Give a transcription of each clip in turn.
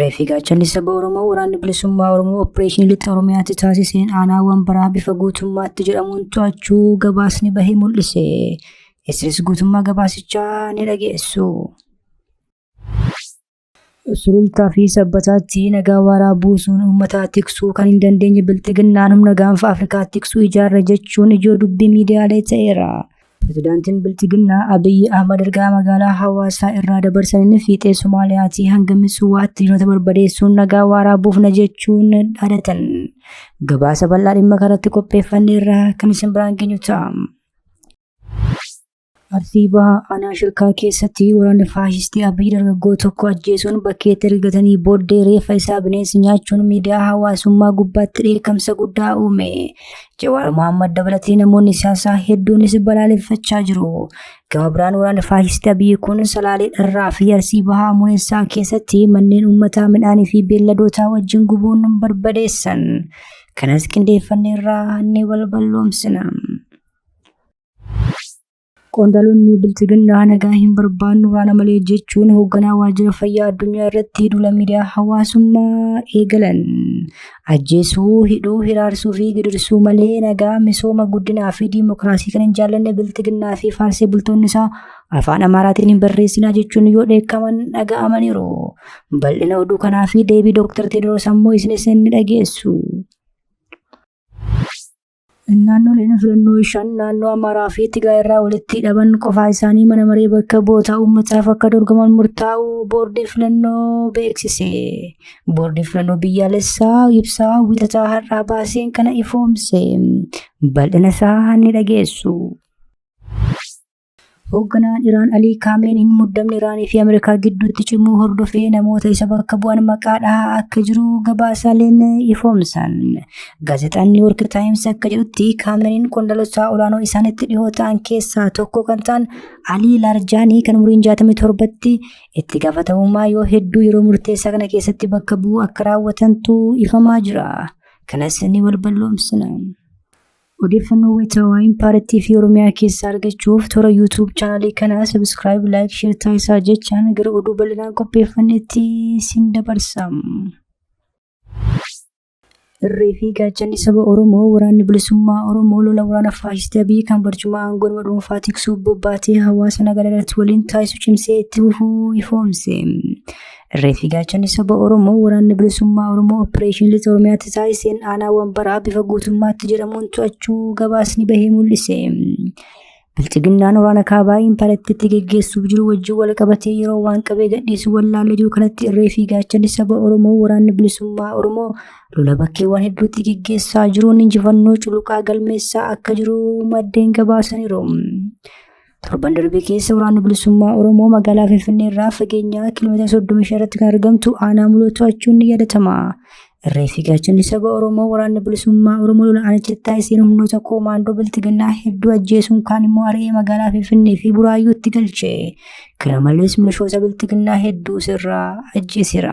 Reeffi gaachanni saba Oromoo waraanni bilisummaa Oromoo opereeshinii lixa Oromiyaatti taasiseen aanaawwan baraa bifa guutummaatti jedhamuun to'achuu gabaasni bahee mul'ise. Isinis guutummaa gabaasichaa ni dhageessu. Sulultaa fi sabbataatti nagaa waaraa buusuun uummataa tiksuu kan hin dandeenye bilxiginnaan humna gaanfa Afrikaa tiksuu ijaarra jechuun ijoo dubbii miidiyaalee ta'eera. Pirezidaantiin Bilxiginnaa Abiyyi Ahmad ergaa magaalaa Hawaasaa irraa dabarsaniin fiixee Somaaliyaatii hanga Mitsuwaatti diinota barbadeessuun nagaa waaraa buufna jechuun dhaadatan. Gabaasa bal'aa dhimma kanarratti qopheeffanne irraa kan isin biraan geenyu ta'a. Arsii Bahaa Aanaa Shirkaa keessatti waraanni faashistii Abiyyi dargaggoo tokko ajjeesuun bakkeetti ergatanii booddee reeffa isaa bineensi nyaachuun miidiyaa hawaasummaa gubbaatti dheekkamsa guddaa uume. Jawaar Mohaammed dabalatee namoonni siyaasaa hedduunis balaaleffachaa jiru. Gama biraan waraanni faashistii Abiyyi kun salaalee dharraa fi arsii bahaa muneessaa keessatti manneen uummataa midhaanii fi beelladootaa wajjin gubuun barbadeessan. Kanas qindeeffannee irraa ni balballoomsina. Qondaalonni bilxiginnaa nagaa hin barbaannu waana malee jechuun hoogganaa waajjira fayyaa addunyaa irratti duula miidiyaa hawaasummaa eegalan. Ajjeesuu, hidhuu, hiraarsuu fi gidirsuu malee nagaa, misooma, guddinaa fi diimokiraasii kan hin jaallanne bilxiginnaa fi faarsee bultoonni isaa afaan Amaaraatiin hin barreessinaa jechuun yoo dheekkaman dhaga'amaniiru. Bal'ina oduu kanaa fi deebii Dooktar Teediroos ammoo isinis ni dhageessu. Naannoleen filannoo shan naannoo Amaaraa fi Tigaa irraa walitti hidhaman qofaa isaanii mana maree bakka bu'oota uummataaf akka dorgoman murtaa'u boordii filannoo beeksise. Boordii filannoo biyyaalessaa ibsaa wiixataa har'aa baaseen kana ifoomse. Bal'ina isaa ni dhageessu. Hoogganaan Iraan Alii Kaameeniin muddamni Iraanii fi Ameerikaa gidduutti cimuu hordofee namoota isa bakka bu'an maqaa dhahaa akka jiru gabaasaaleen ifoomsan. Gaazexaan New York Times akka jedhutti Kaameeniin qondaalota olaanoo isaanitti dhihoo ta'an keessaa tokko kan ta'an Alii Laarjaanii kan umriin 67tti itti gaafatamummaa yoo hedduu yeroo murteessaa kana keessatti bakka bu'uu akka raawwatantu ifamaa jira. Kanas ni balballoomsina. Odeeffannoo wayitaawaa Impaarattii fi Oromiyaa keessaa argachuuf toora YouTube chaanalii kanaa subscribe, like, share taasisaa jechaan gara oduu bal'inaan qopheeffannetti sin dabarsa. Irree fi gaachanni saba Oromoo waraanni bilisummaa Oromoo lola waraana faashistii Abiy kan barcuma aangoo nama dhuunfaa tiksuuf bobbaatee hawaasa nagaa irratti waliin taasisu cimsee itti fufuu ifoomse. Reeffi gaachanni saba Oromoo waraanni bilisummaa Oromoo Opereeshin Lixa Oromiyaatti taasiseen aanaa wambaraa bifa guutummaatti jedhamuun to'achuu gabaasni bahee mul'ise. Bilxiginnaan waraana kaabaa imparattiitti geggeessuuf jiru wajjin wal qabatee yeroo waan qabee gadhiisu wallaalee jiru kanatti irree fi gaachanni saba Oromoo waraanni bilisummaa Oromoo lola bakkeewwan hedduutti geggeessaa jiruun injifannoo culuqaa galmeessaa akka jiru maddeen gabaasaniiru. Torban darbe keessa waraanni bilisummaa Oromoo magaalaa Finfinnee irraa fageenyaa kiiloomeetira 35 irratti kan argamtu aanaa muloo to'achuun ni yaadatama. Irree fi gaachanni saba Oromoo waraanni bilisummaa Oromoo lola aanichatti taasiseen humnoota koomaandoo biltiginnaa hedduu ajjeesuun kaan immoo ari'ee magaalaa Finfinnee fi Buraayyuutti galche. Kana malees milishoota biltiginnaa hedduu sirraa ajjeesera.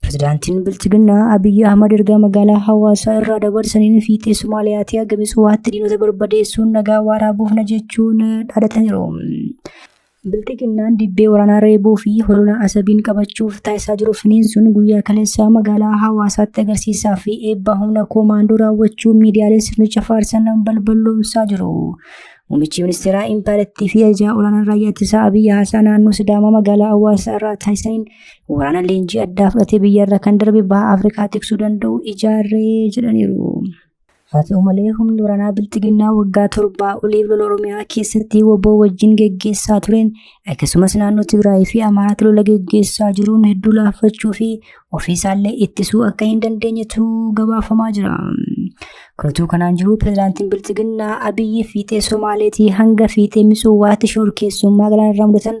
Pirezidaantiin Bilchiginnaa Abiyyi Ahmad ergaa magaalaa hawaasaa irraa dabarsaniin fiixee Somaaliyaatti hagami suwaatti diinota barbadeessuun nagaa waaraa buufna jechuun dhaadataniiru. Bilchiginnaan dibbee waraanaa reebuu fi holola asabiin qabachuuf taasisaa jiru finiinsuun guyyaa kaleessaa magaalaa hawaasaatti agarsiisaa fi eebba humna koomaandoo raawwachuu miidiyaalee sirnicha faarsan balballoomsaa jiru. Muummichi ministeeraa Impaarettii fi ajajaa olaanaan raayyaa ittisaa Abiyyi Haasaa naannoo Sidaamaa magaalaa hawaasaa irraa taasisaniin Waraana leenjii addaa fudhatee biyyarra kan darbe baha Afrikaa tiksuu danda'u ijaarree jedhaniiru. Haa ta'u malee humni waraanaa bilxiginnaa waggaa torbaa oliif lola Oromiyaa keessatti woboo wajjin geggeessaa tureen akkasumas naannoo Tigraay fi Amaaraatti lola geggeessaa jiruun hedduu laaffachuu fi ofiisaallee ittisuu akka hin dandeenyetu gabaafamaa jira. Kunutuu kanaan jiru pirezidaantiin bilxiginnaa Abiyyi fiixee Somaaleetii hanga fiixee Mitsuwaatti shorkeessummaa galaanarraa mudatan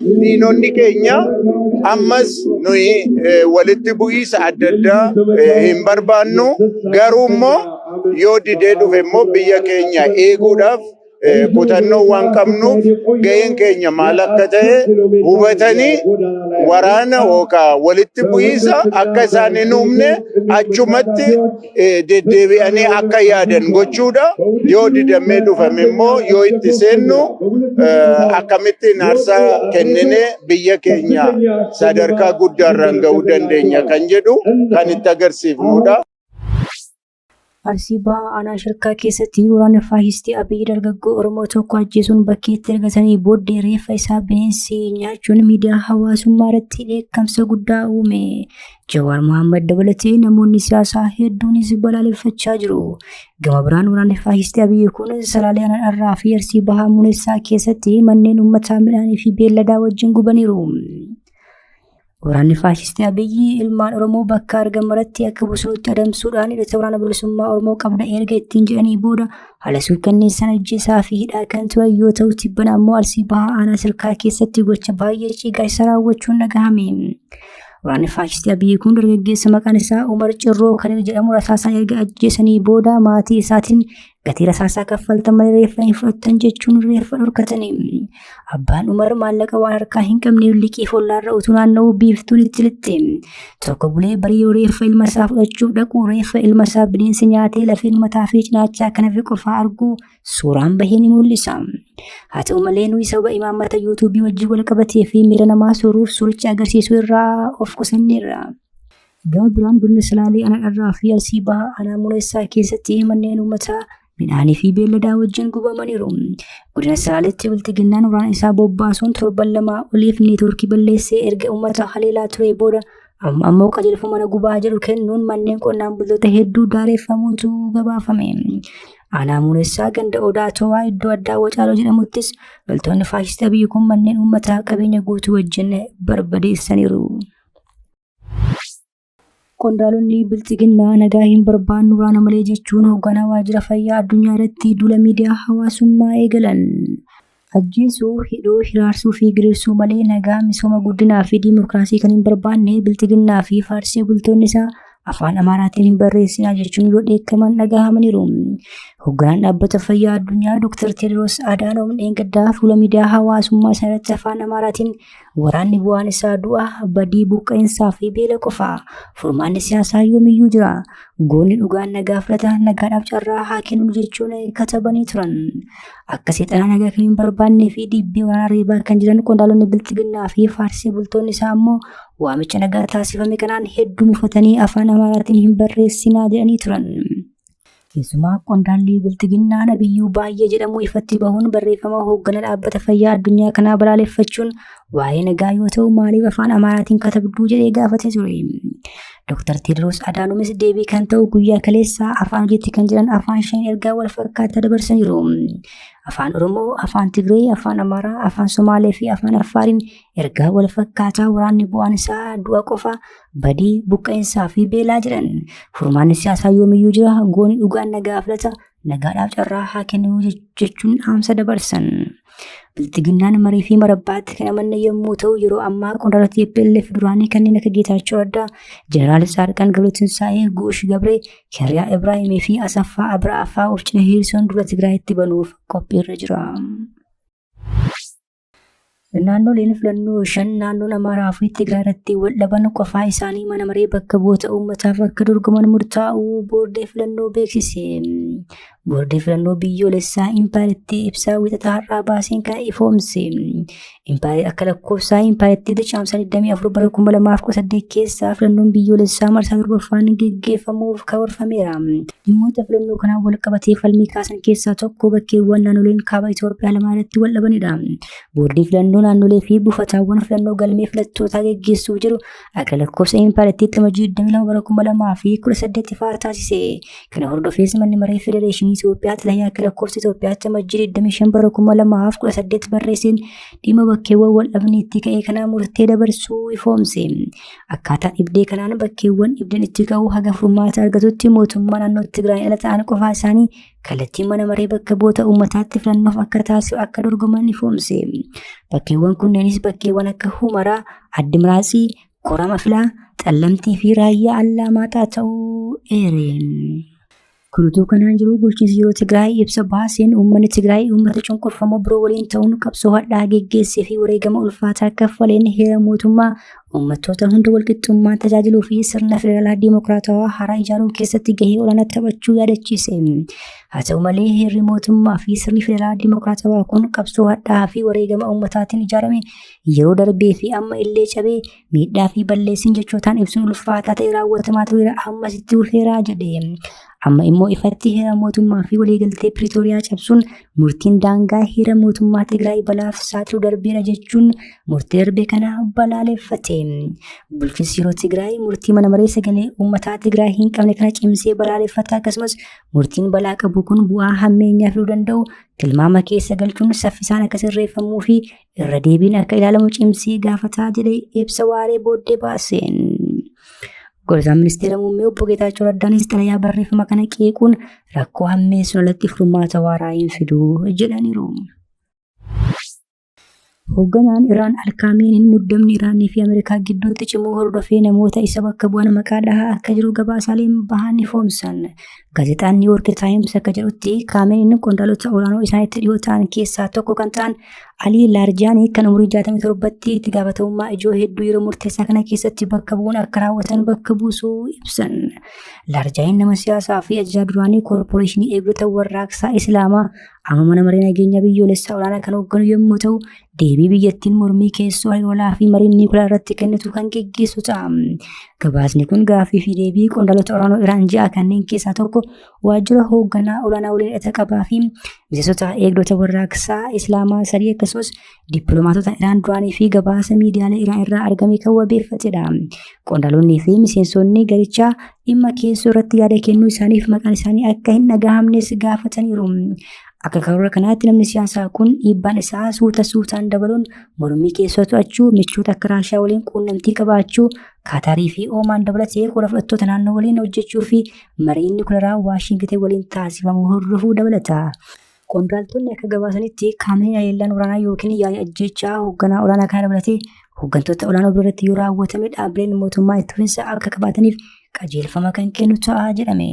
diinonni keenya ammas nuyi eh, walitti bu'iisa adda addaa eh, hin barbaannu garuu immoo yoo didee dhufe immoo biyya keenya eeguudhaaf eh, kutannoo waan qabnuuf ga'een keenya maal akka ta'e hubatanii waraana yookaan walitti bu'iisa akka isaan hin uumne achumatti eh, deddeebi'anii akka yaadan gochuudha. Yoo didamee dhufame immoo yoo itti seennu eh, akkamittiin aarsaa kenninee biyya keenya sadarkaa guddaarraan ga'uu dandeenya kan jedhu kan itti agarsiifnudha. Arsii Bahaa aanaa shirkaa keessatti waraana faashistii Abiy dargaggoo Oromoo tokko ajjeesuun bakkeetti ergatanii booddee reeffa isaa bineensi nyaachuun miidiyaa hawaasummaa irratti dheekkamsa guddaa uume. Jawaar Mohaammed dabalatee namoonni siyaasaa hedduunis balaaleffachaa jiru. Gama biraan waraanni faashistii Abiyyi kun Salaalee Anarraa fi Arsii Bahaa Munessaa keessatti manneen uummataa midhaanii fi beelladaa wajjin gubaniiru. Waraanni faashistii Abiyyi ilmaan Oromoo bakka argamutti akka bosonatti adamsuudhaan hidhata waraana bilisummaa Oromoo qabda erga ittiin jedhanii booda haala suukkanneessaan ajjeesaa fi hidhaa kan turan yoo ta'u tibbana ammoo Arsii Bahaa Aanaa Sirkaa keessatti gocha baay'ee ciigaa isa raawwachuun dhagahame. Waraanni faashistii Abiyyi kun dargaggeessa maqaan isaa Umar Cirroo kan jedhamu rasaasaa erga ajjeesanii booda maatii isaatiin gatii rasaasaa kaffaltan malee reeffa hin fudhattan jechuun reeffa dhorkatanii. Abbaan Umar maallaqa waan harkaa hin qabneef liqii follaarra utuu naanna'uu biiftuun itti lixxe. Tokko bulee barii reeffa ilma isaa fudhachuuf dhaqu reeffa ilma isaa bineensi nyaatee lafeen mataa fi cinaachaa kan hafe qofaa arguu suuraan bahee ni mul'isa. Haa ta'u malee nuyi sababa imaammata yuutuubii wajjin wal qabatee fi miira namaa sooruuf suuricha agarsiisuu irraa of qusanneerra. Gama biraan godina Salaalee Aanaa Dharraa fi Arsii Bahaa Aanaa Muneessaa keessatti manneen uummataa midhaanii fi beelladaa wajjin gubamaniiru. Godina Salaaleetti bilxiginnaan waraana isaa bobbaasuun torban lamaa oliif neetwoorkii balleessee erga uummata haleelaa ture booda Amma ammoo qajeelfama mana gubaa jedhu kennuun manneen qonnaan bultoota hedduu daareffamuutu gabaafame. Aanaa muunessaa ganda odaa towaa iddoo addaa wacaaloo jedhamuttis loltoonni faashistii biyyi kun manneen uummataa qabeenya guutuu wajjin barbadeessaniiru. Qondaalonni bilxiginnaa nagaa hin barbaannu waraana malee jechuun hoogganaa waajjira fayyaa addunyaa irratti duula miidiyaa hawaasummaa eegalan. Ajjeesuu, hidhuu, hiraarsuu fi giriirsuu malee nagaa, misooma, guddinaa fi diimokiraasii kan hin barbaanne bilxiginnaa fi faarsee bultoonni isaa afaan Amaaraatiin hin barreessinaa jechuun yoo dheekkaman dhagahamaniiru. Hogganaan dhaabbata fayyaa addunyaa Dr. Teediroos Adaanoom dheengaddaa fuula miidiyaa hawaasummaa isaa irratti afaan Amaaraatiin Waraanni bu'aan isaa du'a, badii, buqqa'insaa fi beela qofa. Furmaanni siyaasaa yoomiyyuu jira. Goonni dhugaan nagaa fudhata, nagaadhaaf carraa haa kennu jechuun katabanii turan. Akka seexanaa nagaa kan hin barbaannee fi dhiibbee waraanaa reebaa kan jiran qondaalonni bilxiginnaa fi faarsii bultoonni isaa ammoo waamicha nagaa taasifame kanaan hedduu mufatanii afaan amaaraatiin hin barreessinaa jedhanii turan. Keessumaa qondaalli bilxiginnaa nabiyyuu baay'ee jedhamu ifatti bahuun barreeffama hooggana dhaabbata fayyaa addunyaa kanaa balaaleffachuun waa'ee nagaa yoo ta'u maaliif afaan amaaraatiin katabduu jedhee gaafate ture. Dr. Teediroos Adaanumis deebii kan ta'u guyyaa kaleessaa afaan hojiitti kan jiran afaan shan ergaa wal fakkaataa dabarsaniiru. Afaan Oromoo, afaan Tigree, afaan Amaaraa, afaan Somaalee fi afaan Affaariin Ergaa wal fakkaataa waraanni bu'aan isaa du'a qofa badii buqqa'insaa fi beelaa jedhan furmaanni siyaasaa yoomiyyuu jira gooni dhugaan nagaa filata nagaadhaaf carraa haa kennuu jechuun dhaamsa dabarsan. Bilxiginnaan marii fi marabbaatti kan amanne yommuu ta'u yeroo ammaa qondaala TPLF duraanii kanneen akka Geetaachoo Raddaa, Jeneraal Saarqaan Galuutinsaa'ee, Guush Gabree, Kiriyaa Ibraahimii fi Asaffaa Abraafaa of cina hiriirsuun dura Tigraayitti banuuf qophiirra jira. Naannoleen filannoo shan naannoon Amaaraa fi Tigraay irratti wal dhaban qofaa isaanii mana maree bakka bu'oota uummataaf akka dorgoman murtaa'uu boordii filannoo beeksise. Boordii filannoo biyyoolessaa impaayiritti ibsaa wixataa har'aa baaseen kana ifoomse. Impaayiri akka lakkoofsaa impaayiritti dachaamsa 24 bara 2018 keessaa filannoon biyyoolessaa marsaa torbaffaan geggeeffamuuf karoorfameera. Dhimmoota filannoo kanaan wal qabatee falmii kaasan keessaa tokko bakkeewwan naannoleen kaaba Itoophiyaa lamaa irratti wal dhabanidha. Boordiin filannoo naannolee fi buufataawwan filannoo galmee filattootaa geggeessuuf jiru akka lakkoofsa impaayiraatti dhama 22 bara 2018 faara taasise. Kana hordofees manni maree federeeshinii Itoophiyaa xalayaa akka lakkoofsa Itoophiyaatti dhama 25 bara 2018 barreesseen dhimma bakkeewwan wal dhabaniitti ka'ee kanaa murtee dabarsuu ifoomse. Akkaataa dhibdee kanaan bakkeewwan dhibdeen itti ka'u haga furmaata argatutti mootummaa naannoo Tigraay ala ta'an qofaa isaanii kallattiin mana maree bakka bu'oota uummataatti filannoof akka taasisu akka dorgoman ni foomse. Bakkeewwan kunneenis bakkeewwan akka Humaraa, Addimiraasii, Korama Filaa, Xallamtii fi Raayyaa Allaamaaxaa ta'uu eereen. Kun utuu kanaan jiruu bulchiinsi yeroo Tigraay ibsa baaseen uummanni Tigraay uummata cunqurfamoo biroo waliin ta'uun qabsoo hadhaa geggeessee fi wareegama ulfaataa kaffaleen heera mootummaa uummattoota hunda walqixxummaan tajaajiluu fi sirna federaalaa diimokiraatawaa haaraa ijaaruu keessatti gahee olaanaa taphachuu yaadachiise. Haa ta'u malee heerri mootummaa fi sirni federaalaa diimokiraatawaa kun qabsoo hadhaa fi wareegama uummataatiin ijaarame yeroo darbee fi amma illee cabee Miidhaa fi balleessiin jechootaan ibsuun ulfaataa ta'e raawwatamaa tureera ammas itti fufeera jedhe. Amma immoo ifatti heera mootummaa fi waliigaltee Piriitooriyaa cabsuun murtiin daangaa heera mootummaa Tigraay balaaf saaxilu darbeera jechuun murtii darbe kana balaaleffate. Bulchiinsi yeroo Tigraay murtii mana maree sagalee uummataa Tigraay hin qabne kana cimsee balaaleffata akkasumas murtiin balaa qabu kun bu'aa hammeenyaa fiduu danda'u tilmaama keessa galchuun saffisaan akka sirreeffamuu fi irra deebiin akka ilaalamu cimsee gaafataa jedhe ibsa waaree booddee baaseen. Gorsaan ministeera muummee obbo Geetaachoo Raddaanis xalayaa barreeffama kana qeequun rakkoo hammeessuun alatti furmaata waaraa hin fidu jedhaniiru. Hoogganaan Iraan Alkaamiiniin muddamni Iraanii fi Ameerikaa gidduutti cimuu hordofee namoota isa bakka bu'an maqaa dhahaa akka jiru gabaasaaleen bahan ifoomsan. Gaazexaan New York Times akka jedhutti Kaameniin qondaalota olaanoo isaanitti dhiyoo ta'an keessaa tokko kan ta'an Alii Laarjaanii kan umurii 67tti itti gaafatamummaa ijoo hedduu yeroo murteessaa kana keessatti bakka bu'uun akka raawwatan bakka buusuu ibsan. Laarjaaniin nama siyaasaa fi ajajaa duraanii koorporeeshinii eegdota warraaqsaa Islaamaa amma mana maree nageenya biyyoolessaa olaanaa kan hoogganu yommuu ta'u deebii biyyattiin mormii keessoo haloolaa fi mariin niikulaa irratti kennitu kan geggeessu ta'a. Gabaasni kun gaaffii fi deebii qondaalota olaanoo Iraan ji'a kanneen keessaa tokko waajjira hoogganaa olaanaa waliin hidhata qabaa fi miseensota eegdota warraaqsaa Islaamaa sadii akkasumas dippiloomaatota Iraan duraanii fi gabaasa miidiyaalee Iraan irraa argame kan wabeeffatedha. Qondaalonni fi miseensonni garichaa dhimma keessoo irratti yaada kennuu isaaniif maqaan isaanii akka hin dhagahamnes gaafataniiru. Akka karoora kanaatti namni siyaasaa kun dhiibbaan isaa suuta suutaan dabaluun mormii keessoo to'achuu, michoota akka Raashiyaa waliin quunnamtii qabaachuu, Kaataarii fi Oomaan dabalatee qooda fudhattoota naannoo waliin hojjechuu fi marii inni kularaa Waashingitan waliin taasifamu hordofuu dabalata. Qondaaltonni akka gabaasanitti qaamni haleellaan waraanaa yookiin yaa'ii ajjeechaa hoogganaa olaanaa kana dabalatee hooggantoota olaanoo biratti yoo raawwatame dhaabbileen mootummaa itti fufinsa akka qabaataniif qajeelfama kan kennu ta'a jedhame.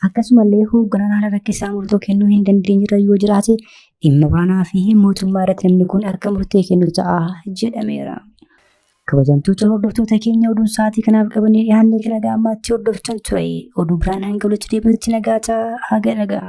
Akkasumallee hoogganaan haala rakkisaa murtoo kennuu hin dandeenyerra yoo jiraate dhimma waraanaa fi mootummaa irratti namni kun akka murtee kennu ta'a jedhameera. Kabajamtoota hordoftoota keenya oduun sa'aatii kanaaf qabannee dhiyaannee kan nagaa ammaatti hordoftan ture. Oduu biraan hanga walitti deebinutti nagaa ta'a haga nagaa.